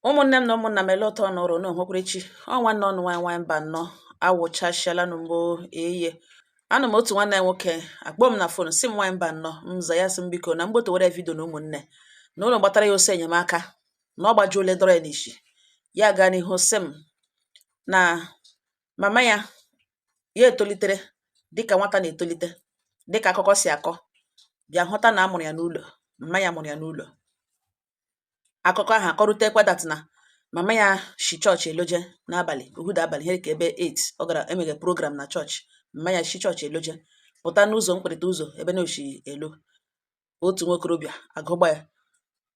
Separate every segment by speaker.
Speaker 1: ụmụnne m na ụmụnna m ele ụtọ ọnụ ụrụ na onwekwere chi ọ nwanne ụnụ nwanyị nwanyị Mbano awụchasịala n'ugbo eye anọ m otu nwanne anyị nwoke akpọọ m na fon sị m nwanyị Mbano m za ya sị m biko na m gbotowere vidio na ụmụnne na ụlọ gbatara ya ọsọ enyemaka na ọ gbajuole dọrọ ya n'isi ya gaa n'ihu sị m na mama ya ya etolitere dịka nwata na-etolite dịka akụkọ si akọ bịa hụta na a mụrụ ya n'ụlọ mma ya mụrụ ya n'ụlọ akụkọ ahụ akọrutekwa that na mama ya shi chọọchị eloje n'abalị uhuda abalị ihe ka ebe 8 ọ gara emeghe program na chọọchị mama ya shi chọọchị eloje pụta n'ụzọ mkpịrịta ụzọ ebe na o shi elo otu nwokorobịa agụgba ya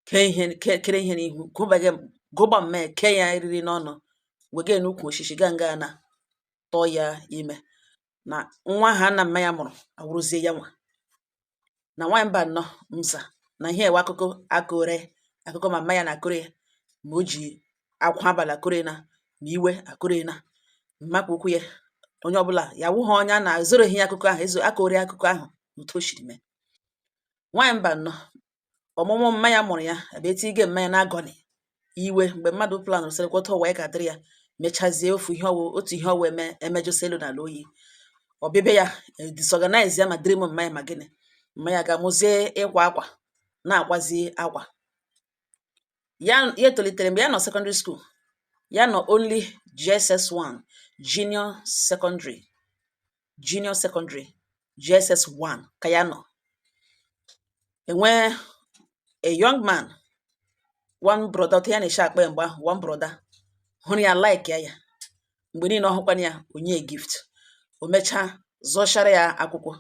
Speaker 1: kee ihe kere ihe n'ihu gụbaghe gụgba mma ya kee ya eriri n'ọnụ wega n'ukwu oshishi gaa nga na tụọ ya ime na nwa ha na mma ya mụrụ awụrụzie ya nwa na nwaanyị Mbano m za na ihe ewe akụkọ akọrọ ya akụkọ mama ya na-akọrọ ya ma o ji akwa abalị akọrọ ya na ma iwe akọrọ ya na mmakpa ukwu ya onye ọbụla ya wụ ha onye a na-ezoroghị ya akụkọ ahụ ezo akọrọ ya akụkọ ahụ otu o shiri mee nwaanyị Mbano ọmụmụ mma ya mụrụ ya abịa etige mma ya na agony iwe mgbe mmadụ planụrụ sị lekwa otu ụwa ya ga-adịrị ya mechazie ofu ihe ọ wụ otu ihe ọ wụ eme emejọsịa elu na ala oyi o bibie ya e, disorganize ya ma dream mma ya ma gịnị mma ya gaa mụzie ịkwa akwa na-akwazi akwa ya ya tolitere mgbe ya nọ secondary school ya nọ only JSS1 junior secondary junior secondary JSS1 ka ya nọ enwee a young man one brother otu ya na-eshi akpọ ya mgbe ahụ one brother hụrụ ya like ya ya mgbe niile ọ hụkwana ya o nye ya gift o mechaa zụchara ya akwụkwọ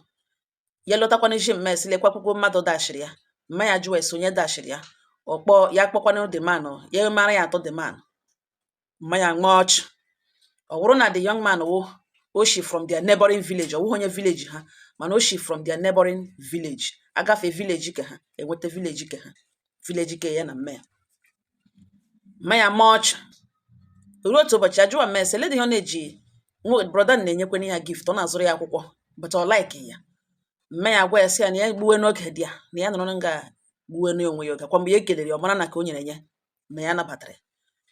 Speaker 1: ya lọtakwanị sị mma ya sị lekwa akwụkwọ mmadụ dashiri ya mma ya jụwa ya sị onye dashiri ya ọ kpọ ya kpọkwana the man ya mara ya atọ the man mma ya maa ọchụ ọ bụrụ na the young man wụ o shi from their neighboring village ọ wụghị onye village ha mana o shi from their neighboring village agafe village ke ha enweta village ke ha village ke ya na mma ya mma ya maa ọchụ ruo otu ụbọchị ya jụwa mma ya sị ele dị ihe ọ na-eji nwa brother na-enyekwana ya gift ọ na-azụrụ ya akwụkwọ but ọ like ya mma ya gwa ya sị ya na ya gbuwe n'oge dị ya na ya nọrọ nga gbuwe n'onwe ya oge kwa mgbe ya ekelere ya ọ mara na ka o nyere ya ma ya nabatara ya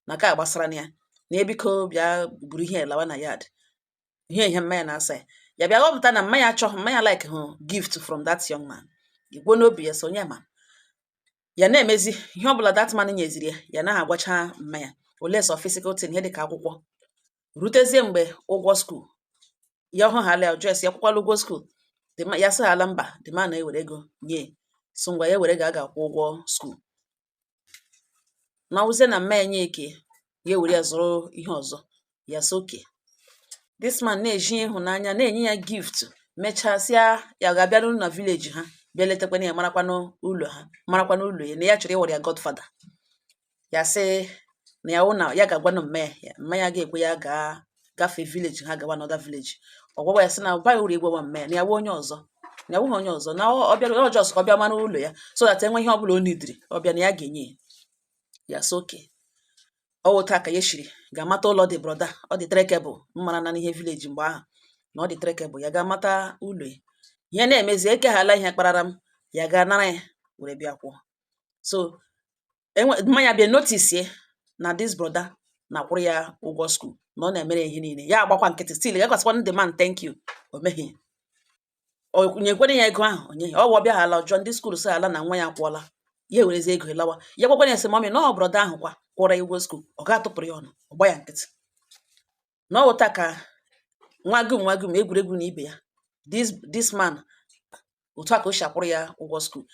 Speaker 1: na ka gbasara na ya na ya biko bịa buru ihe lawa na yard ihe ihe mma ya na-asa ya ya bịa ghọpụta na mma ya achọghị mma ya likehụ gift from that young man igwe n'obi ya so onye ma ya na-emezi ihe ọ bụla that man nyeziri ya ya naghị agwacha mma ya unless physical thing ihe dịka akwụkwọ rutezie mgbe ụgwọ skuul ya ọhụ hala ajụọ sị ya akwụkwala ụgwọ skuul ya sị ala mba the man ewere ego nye sị ngwa ya were ga aga akwụ ụgwọ skuul na ọ wụzie na mma ya nye nke ya ewere ya zụrụ ihe ọzọ ya sị okay this man na-eji ịhụnanya na-enye ya gift mechaa sị ya ga-abịa n'ụlọ na vileji ha bịa letakwana ya marakwa n'ụlọ ha marakwa n'ụlọ ya na ya chọrọ ịwere ya godfather ya sị na ya wụ na ya ga-agwa na mma ya mma ya ga-ekwe ya gaa gafee vileji ha gawa another vileji ọ gwawa ya sị na ọ baghị uru ịgwawa mma ya na ya wụ onye ọzọ na ya wụghị onye ọzọ na ọ bịara ọ just ka ọ bịa mara ụlọ ya so that e nwee ihe ọ bụla o nidiri ọ bịa na ya ga-enye ya ya soke ọ wụ otu a ka ya shiri ga mata ụlọ the brother ọ dị trekkable mmara na n'ihe vileji mgbe ahụ na ọ dị trekkable ya gaa mata ụlọ ya ihe na-emezi ekeghala ihe kparara m ya ga nara ya were bịa kwụọ so mma ya bịa notisie na this brother na-akwụrụ ya ụgwọ skuul na ọ na-emere ya ihe niile ya agbakwa nkịtị still ya gaa sịkwanụ the man thank you o meghị o nyekwara ya ego ahụ onye ọ wụ ọ bịa hala ajụọ ndị skuul sị ala na nwa ya kwụọla ya ewerezi ego lawa ya gwakwara ya sị mami na ọ brother ahụ kwa kwụọrọ ya ụgwọ skuul ọ ga-atụpụrụ ya ọnụ ọ gbaa ya nkịtị na ọ wụ otu a ka nwa gum nwa gum egwuregwu na ibe ya this man otu a ka o si akwụrụ ya ụgwọ skuul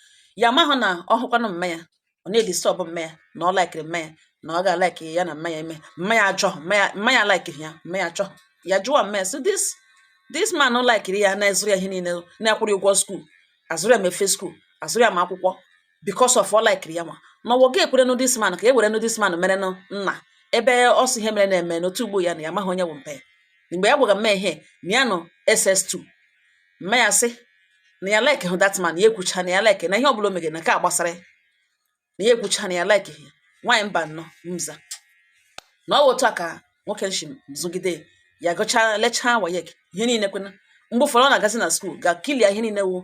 Speaker 1: ya mahụ na ọ wụkwanụ mma ya ọ na-edistọbụ mma ya na ọ laikiri mma ya na ọ ga-alaiki ya na mma ya eme mma ya achọ mma ya laikiri ya mma ya achọ ya jụwa mma ya sị this man laikiri ya na-ezụrụ ya ihe niile na-akwụrụ ụgwọ skuul azụrụ ya ma efe skuul azụrụ ya ma akwụkwọ because of ọ laikiri ya nwa na ọ wụ ọ ga-ekwerenụ this man ka e werenụ this man merenụ nna ebe ọ sị ihe mere na-eme n'otu ugbu a na ya amaghị onye bụ mpa ya mgbe ya gwara mma ya ihe na ya nọ SS2 mma ya sị na ya like hụ that man ya ekwucha na ya like na ihe ọbụla o megere na nke a gbasara ya na ya ekwucha na ya like ya nwaanyị mba nnọọ mza na ọ bụ otu a ka nwoke ahụ shi zụgide ya gụchaa lechaa WAEC ihe niile kwena mgbe ụfọdụ ọ na-agazi na skuul gaa clear ihe niile wụ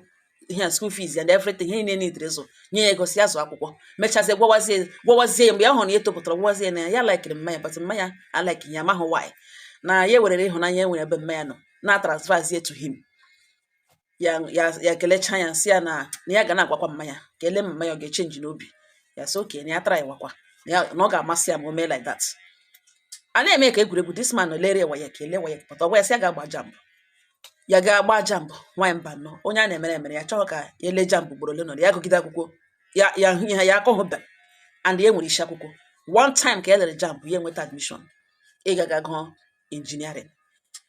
Speaker 1: ihe a school fees and everything ihe niile nidere zụ nye ya ego sị ya zụọ akwụkwọ mechazie gwawazie gwawazie mgbe ya hụrụ na ya etopụtala gwawazie na ya ya laikiri mma ya but mma ya alaiki ya amaghị why na ya ewerere ịhụnanya e nwere ebe mma ya nọ na transferzie to him ya ya ya kelechaa ya sị ya na na ya ga na-agwakwa mma ya ka e lee mma ya ọ ga-echenji n'obi ya sị okay na ya trywakwa na ọ ga-amasị ya ma o mee like that a na-eme ka egwuregwu this man lere ya WAEC e lee WAEC pụta ọ gwa ya sị ya ga-agba JAMB ya ga-agba JAMB nwaanyị mba nọ onye a na-emere emere ya chọghị ka ya lee JAMB ugboro ole nọ ya gụgide akwụkwọ ya ya hụ ihe ya akọghụbe and ya nwere isi akwụkwọ one time ka ya lere JAMB ya enweta admission ịga ga gụọ engineering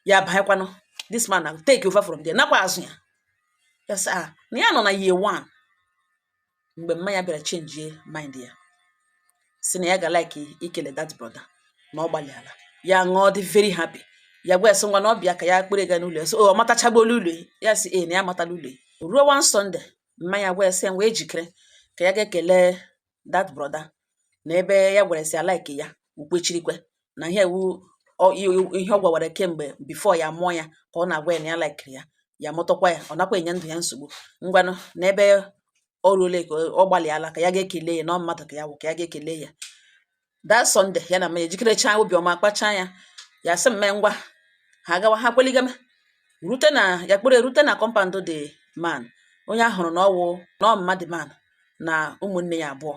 Speaker 1: ya banyekwanụ this man na take over from there nakwa azụ ya ya sị ah na ya nọ na year one mgbe mma ya bịara chenjie mind ya sị na ya ga like ikele that brother na ọ gbalịala ya ṅụọ dị very happy ya gwa ya sị ngwa na ọ bịa ka ya kpere ga n'ụlọ ya sị ọ matachagbola ụlọ ya sị ee na ya amatala ụlọ ruo one Sunday mma ya gwa ya sị ya ngwa jikere ka ya ga-ekele that brother na ebe ya gwara sị alike ya o kwechirikwe na ihe wụ ọ- i- ihe ọ gwawara kemgbe before ya mụọ ya ka ọ na-agwa ya na ya laikiri ya ya mụtakwa ya ọ nakwa enye ndụ ya nsogbu ngwanụ na ebe o ruole ka ọ gbalịala ka ya ga-ekele ya na ọ mmadụ ka ya wụ ka ya ga-ekele ya that Sunday ya na mma ya ejikerechaa obiọma kpachaa ya ya sị mma ya ngwa ha gawa ha kweligeme rute na ya kpụrụ erute na compound the man onye a hụrụ na ọwụ na ọ mma the man na ụmụnne ya abụọ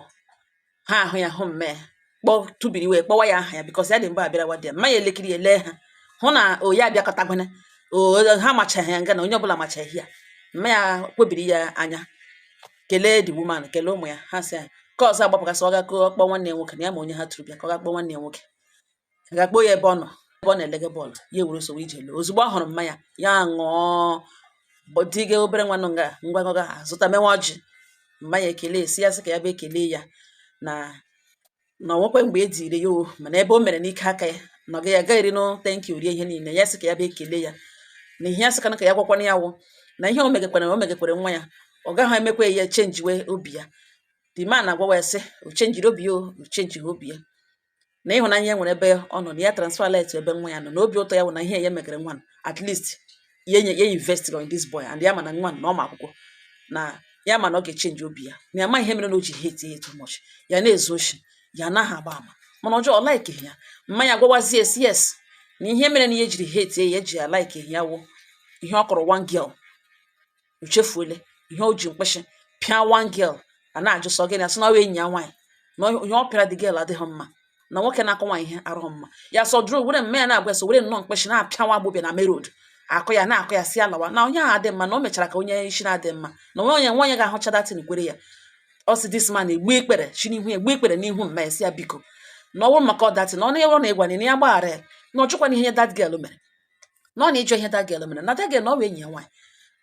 Speaker 1: ha ahụ ya hụ mma ya kpọ tubiri wee kpọwa ya aha ya because ya dị mgbe abịarawa dị ya mma ya elekiri ya lee ha hụ na ya abịakọtagbana ha machaghị ya nga na onye ọbụla machaghị ya mma ya kwebiri ya anya kelee the woman kelee ụmụ ya ha sị ya ka ọzọ agbapụgasị ọ ga-akpọ nwanne ya nwoke na ya ma onye ha tụrụ bịa ka ọ ga-akpọ nwanne ya nwoke ga-akpọ ya ebe ọ nọ ebe ọ na-elege bọọlụ ya ewere ọsọ were ije lọọ ozugbo ọ hụrụ mma ya ya ṅụọ dịga obere nwanụ nga ngwa ngwa ha zụta mewa ọjị mma ya ekelesie ya sị ka ya bịa ekele ya na na o nwekwe mgbe e diri ya o mana ebe o mere n'ike aka ya na ọ gaghị agaghịrị no thank you rie ihe niile ya sị ka ya bịa ekele ya na ihe ya sị kana ka ya gwakwana ya wụ na ihe o megekwara na o megekwara nwa ya ọ gaghị emekwa ya chenjiwe obi ya the man agwawa ya sị o chenjiri obi ya o chenjighị obi ya na ịhụnanya ya nwere ebe ọ nọ na ya transferla it ebe nwa ya nọ na obi ụtọ ya wụ na ihe ya megere nwa at least ya enye ya investigọ in this boy and ya ma na nwa na ọ ma akwụkwọ na ya ma na ọ ga-echenji obi ya na ya ma ihe mere na o ji hate ya too much ya na-ezu oshi ya anaghị agba ama mana ọjọọ ọ laikighị ya mma ya agwawazi ya sị yes na ihe mere na ya jiri hate ya ya ji ya laikighị ya wụ ihe ọ kụrụ one girl o chefuole ihe o ji mkpịshị pịa one girl a na-ajụ sị ọ gịnị a sị na ọ enyi ya nwaanyị na ihe ọ pịara the girl adịghị mma na nwoke na-akụ nwaanyị ihe adịghị mma ya sọ dụrụ were mma ya na-agwa ya sị o were nnọọ mkpịshị na-apịa nwa agbọbịa na main road akụ ya na-akụ ya sị ya lawa na onye ahụ adị mma na o mechara ka onye isi na-adị mma na o nwe onye nwaanyị ga-ahụcha that thing kwere ya ọ sị this man egbu ikpere chi n'ihu ya egbu ikpere n'ihu mma ya sị ya biko na ọ wụ maka that thing na ọnụ ya na ịgwa na ya gbaghara ya na ọ ihe that girl mere na ọ nụ ịjọ ihe that girl mere na that girl na ọ bụ enyi ya nwaanyị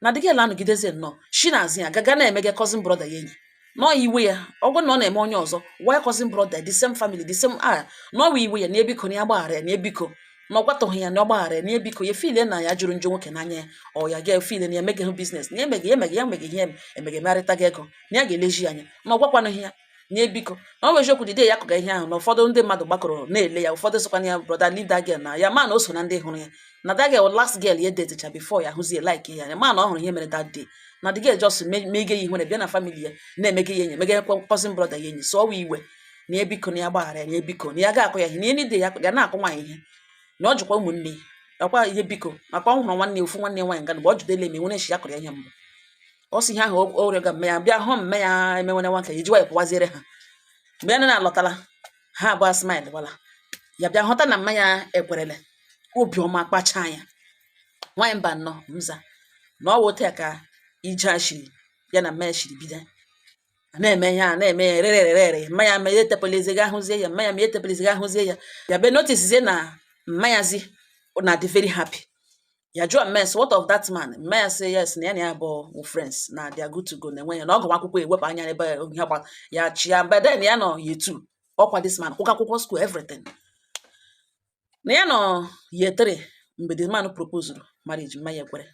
Speaker 1: na the girl anọgidezi nnọọ shi na azụ ya gaga na-emega cousin brother ya enyi na ọ iwe ya ọ bụrụ na ọ na-eme onye ọzọ why cousin brother the same family the same ah na ọ iwe ya na ebiko na ya gbaghara ya na ebiko na ọ gwatụghị ya na ọ gbaghara ya na ebiko ya feel na ya jọrọ njọ nwoke n'anya ya ọ ya ga feel na ya emeghị hụ business na ya emeghị ya emeghị ya emeghị ihe emeghị emegharịtaghị ego na ya ga-eleji ya anya na ọ gwakwanụghị ya nye biko na ọ bụ eziokwu the day ya kụga ihe ahụ na ụfọdụ ndị mmadụ gbakọrọ na-ele ya ụfọdụ sịkwana ya brọda leave that girl na ya ma na o so na ndị hụrụ ya na that girl last girl ya detecha before ya hụzie like ya ya ma na ọ hụrụ ihe mere that day na the girl just mege ya ihere bịa na family ya na-emege ya enyi mege cousin brọda ya enyi so ọ wụ iwe na ya biko na ya gbaghara ya na ya biko na ya ga-akụ ya ihe na ya nide ya ga na-akụ nwaanyị ihe na ọ jụkwa ụmụnne ya nakwa ihe biko nakwa ọ hụrụ nwanne ofu nwanne nwaanyị nga mgbe ọ jụdele ma e nwere nshi ya kụrụ ya ihe mbụ ọ sị ihe ahụ o o rịọga mma ya bịa hụ mma ya emenwene nwa nke ya ejiwa ya pụwaziere ha mgbe ya na alọtala ha abụọ smile wala ya bịa hụta na mma ya ekwerele obiọma kpachaa ya nwaanyị Mbano m za na ọ wụ otu ya ka ije a shiri ya na mma ya shiri bido a na-eme ihe a na-eme ya rere rere rere mma ya ma ya etepelizi gị ahụzie ya mma ya ma ya etepelizi gị ahụzie ya ya bịa notisizie na mma ya zi na dị very happy ya jụọ mma ya sị what of that man mma ya sị yes na ya na ya bụ wụ friends na they are good to go na nwa ya na ọ gụwa akwụkwọ ewepụ anya n'ebe ihe gba ya chi ya but then ya nọ year two ọkwa this man kwụga akwụkwọ school everything na ya nọ year three mgbe the man proposed marriage mma ya ekwere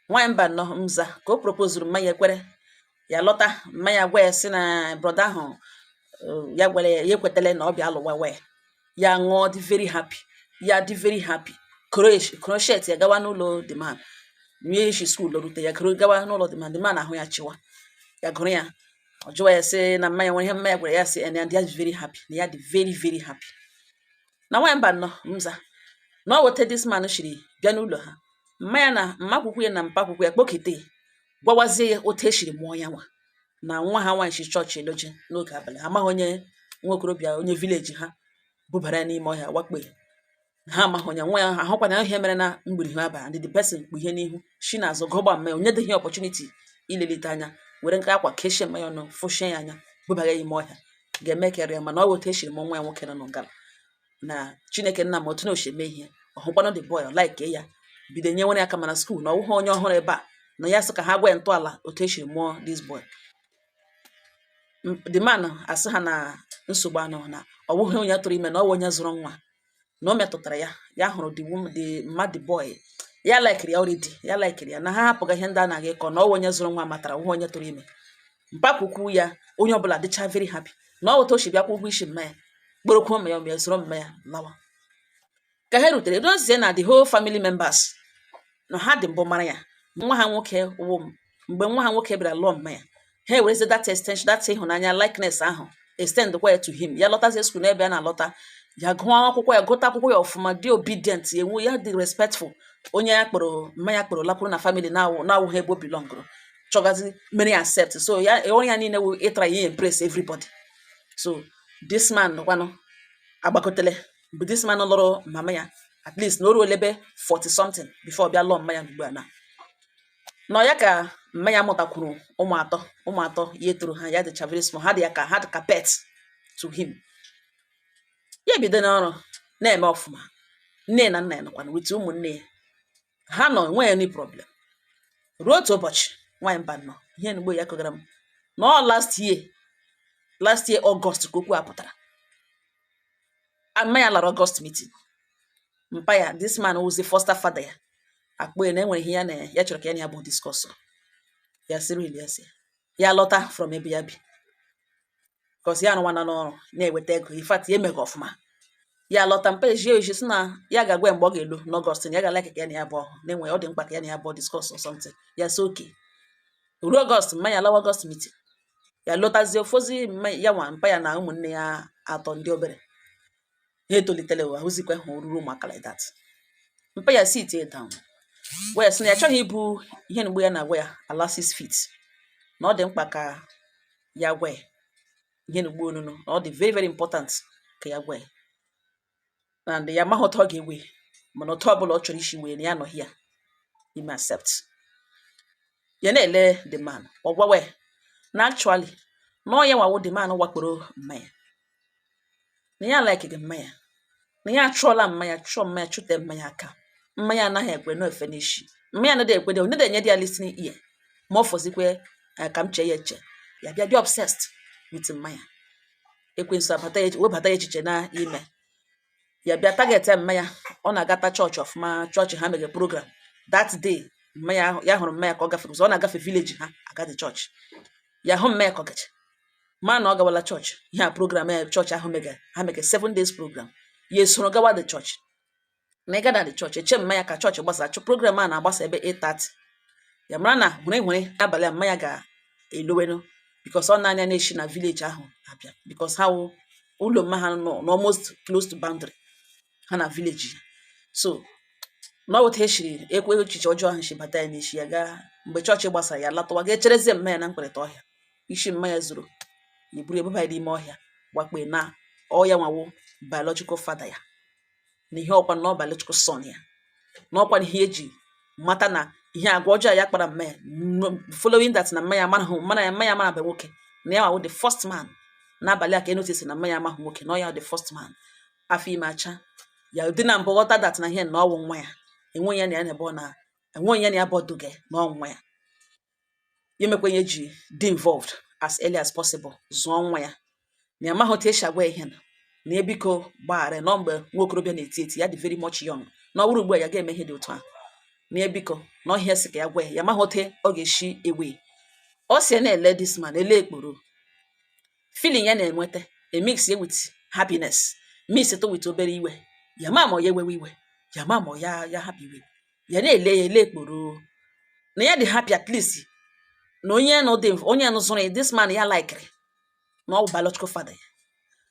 Speaker 1: nwaanyị Mbano m za ka o proposed mma ya ekwere ya lọta mma ya gwa ya sị na brọda ahụ eh, ya gwara ya ya ekwetala na ọ bịa lụwa wee ya ṅụọ dị very happy ya dị very happy Croatia- crochet ya gawa n'ụlọ the man ya si skuul rute ya goro gawa n'ụlọ the man the man ahụ ya chịwa ya gụrụ ya ọ jụwa ya sị na mma ya nwere ihe mma ya gwara ya sị na ya dị very happy na ya dị very very happy na nwaanyị Mbano m za na ọ wụ otu this man shiri bịa n'ụlọ ha mma ya na mmakwukwu ya na mpakwukwu ya kpọkite ya gwawazie ya otu e siri mụọ ya nwa na nwa ha nwaanyị si chọọchị alọje n'oge abalị ha amaghị onye nwa okorobịa onye vileji ha bubara ya n'ime ọhịa wakpo ya na ha amaghị onye nwe ya ha hụkwana ihe mere na mgbiri ha abalị ndị the person kpu ihe n'ihu si n'azụ gọgba mma ya o nyedịghị opportunity ilelite anya were nke akwa kechie mma ya ọnụ fụchie ya anya bubara ya ime ọhịa ga-eme karịa mana ọ bụ otu e siri mụọ nwa ya nwoke nọ n'ụgala na Chineke nna ma otu o shi eme ihe ọ hụkwanụ the boy ọ like ya bido nyewere ya aka ma na skuul na ọ wụghị onye ọhụrụ ebe a na ya sị ka ha gwa ya ntọala otu e si mụọ this boy the man asị ha na nsogbu anọ na ọ bụghị onye tụrụ ime na ọ bụ onye zụrụ nwa na o metụtara ya ya hụrụ the woman the mad boy ya laikiri ya already ya laikiri ya na ha hapụga ihe ndị a na-aga ịkọ na ọ bụ onye zụrụ nwa matara ọ bụghị onye tụrụ ime mpakwukwu ya onye ọbụla dịcha very happy na ọ wụ otu o si bịa kwụọ ụgwọ isi mma ya kpọrọkwuo mma ya mgbe zụrụ mma ya lawa ka ha rutere dozie na the whole family members na ha dị mbụ mara ya nwa ha nwoke wụ m mgbe nwa ha nwoke bịara lụọ mma ya ha ewerezi that extension that ịhụnanya likeness ahụ extend kwa ya to him ya lọtazie skuul n'ebe a na-alọta ya gụọ akwụkwọ ya gụta akwụkwọ ya ọfụma dị obedient ya enwe ya dị respectful onye ya kpọrọ mma ya kpọrọ lakwuru na family na-awụ na-awụghị ebe o belongụrụ chọgazi mere accept so ya onye ya niile wụ ịtry impress everybody so this man kwanụ agbakọtele mgbe this man lụrụ mama ya at least na o ruole ebe 40 something before bịa lụọ mma ya ugbu a na nọ ya ka mma ya mụtakwuru ụmụ atọ ụmụ atọ ya tọrọ ha ya dịcha very small ha dị ya ka ha dị ka pet to him ya ebido n'ọrụ na-eme ọfụma nne na nna ya nọkwana with ụmụnne ya ha nọ enweghị any problem ruo otu ụbọchị nwaanyị mba nọ ihe nugbo ya kọgara m na ọ last year last year August ka okwu a pụtara mma ya lara August meeting mpa ya this man wụzi foster father ya akpọ ya na enwere ihe ya chọrọ ka ya na ya abụọ discuss ya sịrị ya sị ya lọta from ebe ya bi cos ya arụwana ọrụ na-enweta ego in fact ya emega ọfụma ya lọta mpa ejie oji sị na ya ga-agwa ya mgbe ọ ga-alọ n'August na ya ga-like ka ya na ya abụọ hụ na enwe ọ dị mkpa ka ya na ya abụọ discuss or something ya sị okay ruo August mma ya lawa August meeting ya lọtazie ọ fọzi ya nwa mpa ya na ụmụnne ya atọ ndị obere ha etolitela ọ wụhụzikwa ha oruru ụmụaka like that mpa ya sit down wee sị na ya chọghị ibu ihe nugbo ya na-agwa ya ala six feet na ọ dị mkpa ka ya gwa ya ihe nugbo onunu na ọ dị very very important ka ya gwa ya and ya amaghị otu ọ ga-ewe mana otu ọbụla ọ chọrọ isi wee na ya anọghị ya ime accept ya na-ele the man ọ gwawa ya na actually na ọ ya nwa wụ the man wakporo mma ya na ya likega mma ya na ya achụọla mma ya chụọ mma ya chụte mma ya aka mma ya anaghị ekwe na-efe n'isi mma ya anaghị ekwedị enye enyedị ya listening ear ma ọ fọzikwe eh, ka m chee ya eche ya bịa dị obsessed with mma ya ekwensu abata ya webata ya echiche n'ime ya bịa target mma ya ọ na-agata chọọchị ọfụma chọọchị ha mega program that day mma ya ya hụrụ mma ya ka ọ gafere ọ na-agafe village ha agadi chọọchị ya hụ mma ya ka ọ gachi ma na ọ gawala chọọchị ihe a program ya chọọchị ahụ mega ha mega seven days program ya esoro gawa the chọọchị na ịga na the chọọchị eche mma ya ka chọọchị gbasa cos program a na-agbasa ebe 8:30 ya mara na uhuru uhuru abalị a mma ya ga-elowenu because ọ naanị ya na-eshi na village ahụ abịa because ha wụ ụlọ mma ha nọ almost close to boundary ha na village ya so na ọ wụ otu a eshiri ekwe echiche ọjọọ ahụ shi bata ya n'isi ya gaa mgbe chọọchị gbasara ya latọwa gaa cherezi mma ya na mkpịrịta ọhịa isi mma ya zuru ya buru bubaa ya n'ime ọhịa wakpo ya na ọ ya nwa wụ biological father ya na ihe ọkwa na ọ biological son ya na ọkwa na ihe eji mata na ihe agwa ọjọọ ya kpara mma ya following that na mma ya mara mana ya mma ya amarabe nwoke na ya nwa wụ the first man n'abalị a ka a notice na mma ya amaghị nwoke na ọ ya the first man afọ ime acha ya dị na mbụ ghọta that na ihe na ọ wụ nwa ya enweghị ya na ya na ebe ọ na enweghị ya na ya abụọ dụge na ọ wụ nwa ya ya emekwa ihe ji dị involved as early as possible zụọ nwa ya ma ya amaghị otu esi agwa ihe na na ya biko gbaghara na ọ mgbe nwa okorobịa na-eti eti ya dị very much young na ọ bụrụ ugbu a ya ga-eme ihe dị otu ahụ na ya biko na ọ ihe ya sị ka ya gwa ya ya amaghị otu ọ ga-esi ewe ọ si na-ele this man ele ekporo feeling ya na-enweta emix ya with happiness mixed with obere iwe ya ma ma ọ ya ewewe iwe ya ma ma ọ ya ya hapụ iwe ya na-ele ya ele ekporo na ya dị happy at least na onye nọ dị onye nọ zụrụ ya this man ya likere na ọ bụ biological father ya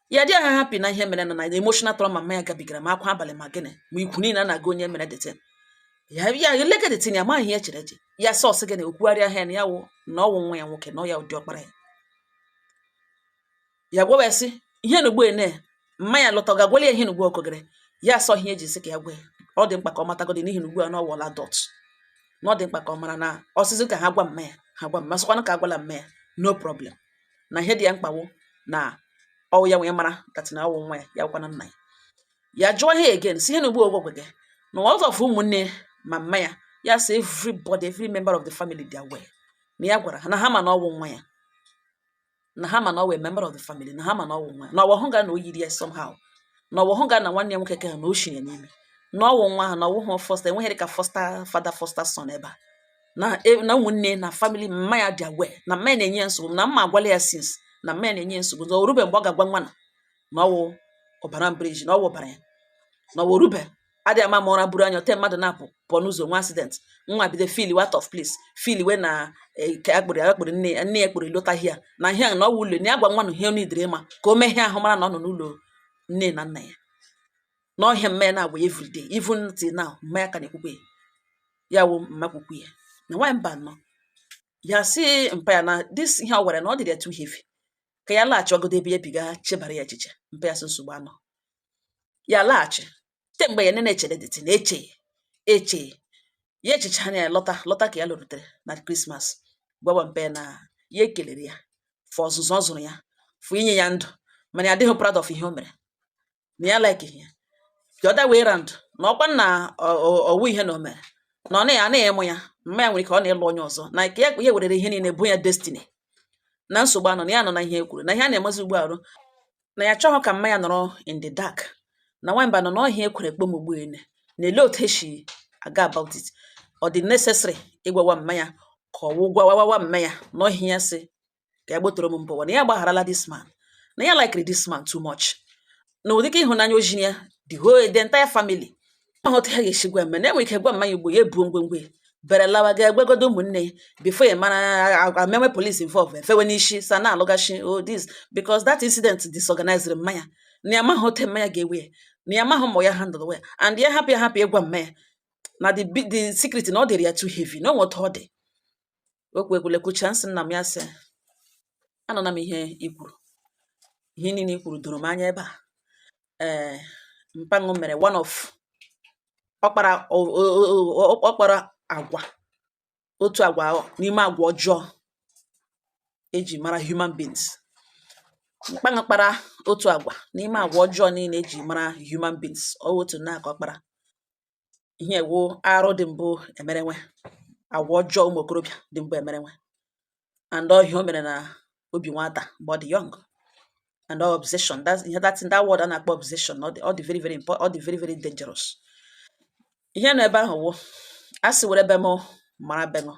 Speaker 1: ya adịha happy na ihe mere na na emotional trauma mma ya gabigara ma akwa abalị ma gịnị ma ikwu niile na-aga onye mere that thing ya ya eleke that thing ya amaghị ihe chere eche ya sọsị gị na okwugharịa ha ya na ya wụ na ọ wụ nwa ya nwoke na ọ ya wụ diọkpara ya ya gwawa ya sị ihe na ugbu ene mma ya lọta ọ ga-agwali ya ihe nugbu okogere ya asọ ihe eji sị ka ya gwa ya ọ dị mkpa ka ọ matagodi n'ihi na ugbu a na ọ wụla adult na ọ dị mkpa ka ọ mara na ọ sị sị ka ha gwa mma ya ha gwa mma sịkwanụ ka agwala mma ya no problem na ihe dị ya mkpa wụ na ọ wụ ya wee mara that thing na ọ wụ nwa ya ya gwana nna ya ya jụọ ihe again sị ihe nugbu ogwogwe gị na ọzọ fụ ụmụnne ma mma ya ya sị everybody every member of the family dị aware na ya gwara ha na ha ma na ọ wụ nwa ya na ha ma na ọ wụ member of the family na ha ma na ọ wụ nwa na ọ wụ hụ ga na o yiri ya somehow na ọ wụ hụ ga na nwanne ya nwoke ka ha na o shiri ya n'ime na ọ wụ nwa ha na ọ wụhụ foster enweghịrị ka foster father foster son ebe a na e, na ụmụnne na family mma ya dị aware na mma ya na-enye ya nsogbu na mma agwala ya since na mma ya na-enye ya nsogbu na o rube mgbe ọ ga-agwa nwa na na ọ wụ ọbara mbriji na ọ wụ ọbara ya na ọ wụ o rube adị ama ma ụra buru anya ote mmadụ na-apụ pụọ n'ụzọ nwee accident nwa bido feelwa out of place feelwe na e, ka ya kpụrụ ya kpụrụ nne ya nne ya kpụrụ elotaghị ya na ihe ahụ na ọ wụ ụlọ na ya gwa nwa na ihe ọ needere ịma ka o mee ihe ahụ mara na ọ nọ n'ụlọ nne na nna ya na ọ ihe a mma ya na-agwa ya everyday even till now mma ya ka na-ekwukwe ya ya wụ mma kwukwu ya na nwaanyị mba nọ ya sị mpa ya na this ihe ọ gwara na ọ dịrị ya too heavy ka ya laghachigodu ebe ya bi ga chebara ya echiche mpa ya sị nsogbu anọ ya laghachi te mgbe ya na na-echere that thing na-eche eche ya echiche anya ya lọta lọta ka ya lụrutere na Christmas gwawa mpa ya na ya ekelere ya for ọzụzụ ọ zụrụ ya for inye ya ndụ mana ya adịghị proud of ihe o mere na ya like ihe the other way round na ọkwa na ọ wụ ihe na o mere na ọ na ya anaghị ịmụ ya mma ya nwere ike ọ na-ịlụ onye ọzọ na ka ya werere ihe niile bụ ya destiny na nsogbu anọ na ya nọ na ihe e kwuru na ihe a na-emezi ugbu arụ na ya achọghị ka mma ya nọrọ in the dark na nwamba nọ na ọ ihe ya kwere kpọọ m ugbu ene na-ele otu esi aga about it ọ dị necessary ịgwawa mma ya ka ọ wụ gwawawa mma ya na ọ ihe ya sị ka ya gbotoro m mbụwa na ya gbagharala this man na ya likere this man too much na ụdịka ịhụnanya o ziri ya the whole the entire family ma otu ha ga-esi gwa mma ya na enwere ike gwa mma ya ugbo ya ebuo ngwongwo ya bere lawa ga agwagodo ụmụnne ya before ya mara agwa mewe police involve efewe n'isi sa na-alụghachi oh this because that incident disorganized mma ya na ya amaghị otu mma ya ga-ewe ya na ya amaghị ma ya handle ya and ya hapụ ya hapụ ịgwa mma ya na the bi- the secret na ọ dịrị ya too heavy na o nwe otu ọ dị okwu ekwulekwucha m sị nna m ya sị anụla m ihe i kwuru ihe niile i kwuru doro m anya ebe a eh, mpa ṅụ mere one of ọ kpara ọ kpara agwa otu agwa n'ime agwa ọjọọ eji mara human beings mpa ṅụ kpara otu agwa n'ime agwa ọjọọ niile eji mara human beings ọ otu nke ọ kpara ihe a wụ arụ dị mbụ emerenwe agwa ọjọọ ụmụ okorobịa dị mbụ emerenwe and ọ ihe o mere na obi nwata mgbe ọ dị young and all obsession that's ihe that that word a na-akpọ obsession ọ dị ọ dị very very important ọ dị very very dangerous ihe nọ ebe ahụ wụ a sị were be m mara be m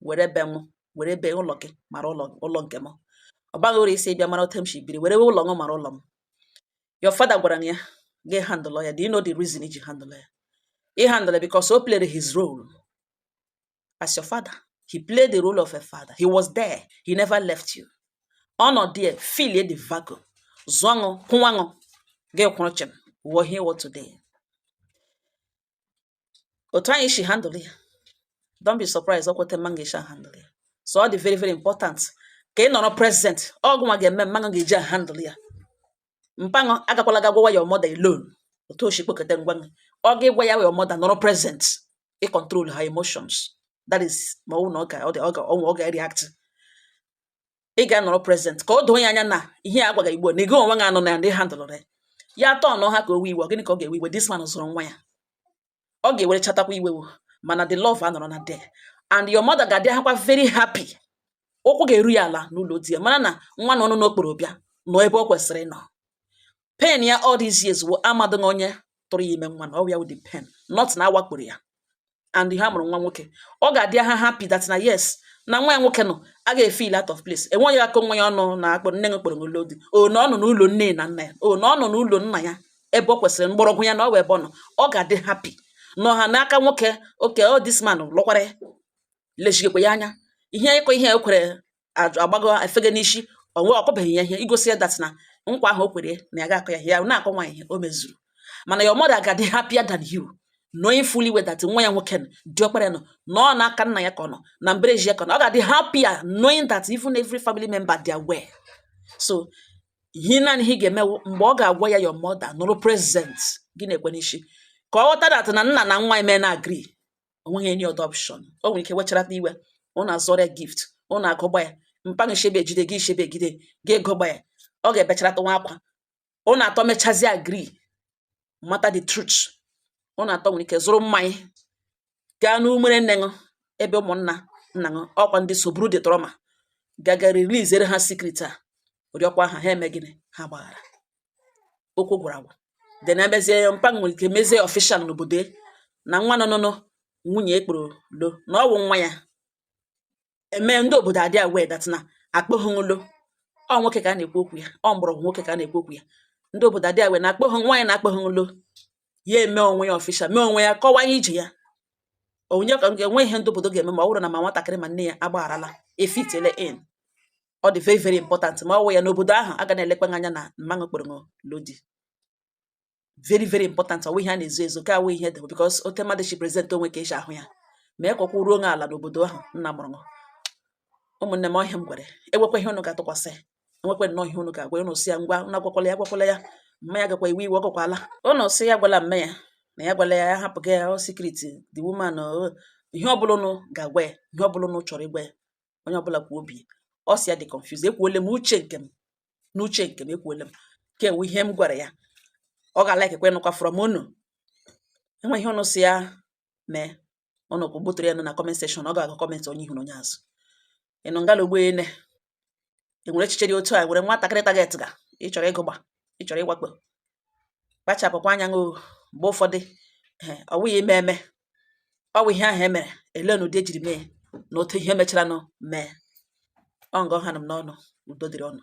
Speaker 1: were be m were be ụlọ gị mara ụlọ ụlọ nke m ọ baghị uru ị sị bịa mara otu m si biri were ụlọ m mara ụlọ m your father gwara ya gị handle ya do you know the reason i ji handle ya ị handle because o played his role as your father he played the role of a father he was there he never left you ọ nọ there fill the vacuum zụọ ṅụ kwụwa ṅụ gị kwụrụ chịm wụọ ihe ị wụ today otu anyị si handle ya don't be surprised ọ kwa otu mma ṅụ ga-eji handle ya so ọ dị very very important ka ị nọrọ present ọ gị nwa ga-eme mma ṅụ ga-eji handle ya mpa ṅụ agakwala ga gwawa your mother alone otu o si kpokọta ngwa ọ ga ịgwa ya your mother nọrọ present ị control her emotions that is ma ọ wụ na ọ ga ọ ga ọ ga react ị ga-anọrọ present ka o doo ya anya na ihe a gwaga gị mbụ na gị onwe gị anụna ya na ị handlerụ ya ya atọ ọnụ ha ka o we iwe gịnị ka ọ ga-ewe iwe this man zụrụ nwa ya ọ ga-ewere chatakwa iwe o mana the love anọrọ na there and your mother ga-adịhakwa very happy ụkwụ ga-eru ya ala n'ụlọ di ya mara na nwa na ọ nọ n'okporo bịa nọ ebe ọ kwesịrị ịnọ Pain ya all these years wụ amadịghị onye tụrụ ya ime nwa na ọ ya wụ the pain not na a wakporo ya and ha mụrụ nwa nwoke ọ ga-adị ha happy that na yes na nwa ya nwoke nọ a ga-efeel out of place enweghị aka onwe ya ọnụ na-akpọ nne gị kpọrọ gị lụọ di o na ọ nọ n'ụlọ nne na nna ya o na ọ nọ n'ụlọ nna ya ebe ọ kwesịrị mgbọrọgwụ ya na ọ wụ ebe ọ nọ ọ ga-adị happy nọ ha n'aka nwoke oke ọ this man lụkwara ya lechigekwa ya anya ihe ịkọ ihe ekwere ajụ agbago efege n'isi o nwee ọkọbeghị ya ihe igosi ya that na nkwa ahụ o kwere ya na ya ga-akọ ya ihe ya na-akọ nwa ihe o mezuru mana your mother ga-adị happier than you knowing fully well that nwa ya nwoke nọ, diọkpara ya nọ na ọ n'aka nna ya ka ọ nọ na mbereji ya ka ọ nọ ọ ga-adị happier knowing that even every family member they are aware so ihe naanị ihe ị ga-eme wụ mgbe ọ ga-agwa ya your mother nọrọ present gị na-ekwe n'isi ka ọ ghọta that na nna na nwa eme na agree o nweghị any other option o nwere ike wecharata iwe unu azụrụ ya gift unu agụgba ya mpa gị shebe ejide gị shebe egide gị agụgba ya ọ ga-ebecharata nwa akwa unu atọ mechazie agree mata the truth unu atọ nwere ike zụrụ mmanya gaa n'umere nne unu ebe ụmụnna nna unu ọkwa ndị so buru the trauma gaga releasere ha secret a rịọkwa ha ha eme gịnị ha gbaghara okwu gwara agwa then emezie ya mpa nwere ike mezie official n'obodo na nwa nọ nọ nwunye ekporo lo na ọ wụ nwa ya eme ndị obodo adị aware that na akpọghị lo ọ nwoke ka a na-ekwu okwu ya ọ mgbọrọgwụ nwoke ka a na-ekwu okwu ya ndị obodo adị aware na akpọghị nwa ya na akpọghị lo ya eme onwe ya official mee onwe ya kọwaa ije ya onye ka enwe ihe ndị obodo ga-eme ma ọ bụrụ na ma nwatakịrị ma nne ya agbagharala efitele in ọ dị very very important ma ọ wụ ya n'obodo ahụ a ga na-elekwa anya na mmanụ kpọrọ lo ọ dị very very important ọ wụ ihe a na-ezo ezo ka awụ ihe dị because otu mmadụ si present onwe ka e si ahụ ya ma ekwekwa ruo onye ala n'obodo ahụ nna mụrụ ụmụnne m ọ ihe m gwara enwekwa ihe unu ga-atụkwasị enwekwe nnọọ ihe unu ga-agwa unu sị ya ngwa unu agwakwala ya agwakwala ya mma ya gakwa iwe iwe ọ gakwala unu sị ya gwala mme ya na ya gwala ya ya hapụga ya ọ secret the woman o ihe ọbụla unu ga-agwa ya ihe ọbụla unu chọrọ ịgwa ya onye ọbụla kwuo obi ọ sị ya dị confused ekwuole m uche nke m n'uche nke m ekwuole m ka enwe ihe m gwara ya ọ ga-alikekwe nụkwa from unu enwe ihe unu sị ya mee unu kwa gbotere ya nọ na comment section ọ ga-agụ comment onye ihu na onye azụ ị nọ ngala ugbo ene enwere echiche dị otu a nwere nwatakịrị target ga ịchọrọ ịgụgba ịchọrọ ịwakpo kpachapụkwa anya nụ mgbe ụfọdụ ọ wụghị ime eme ọ bụ ihe ahụ e mere ele na ụdị e jiri mee na otu ihe mecharanụ mee ọ nga ọha nọ m n'ọnụ udo dịrị unu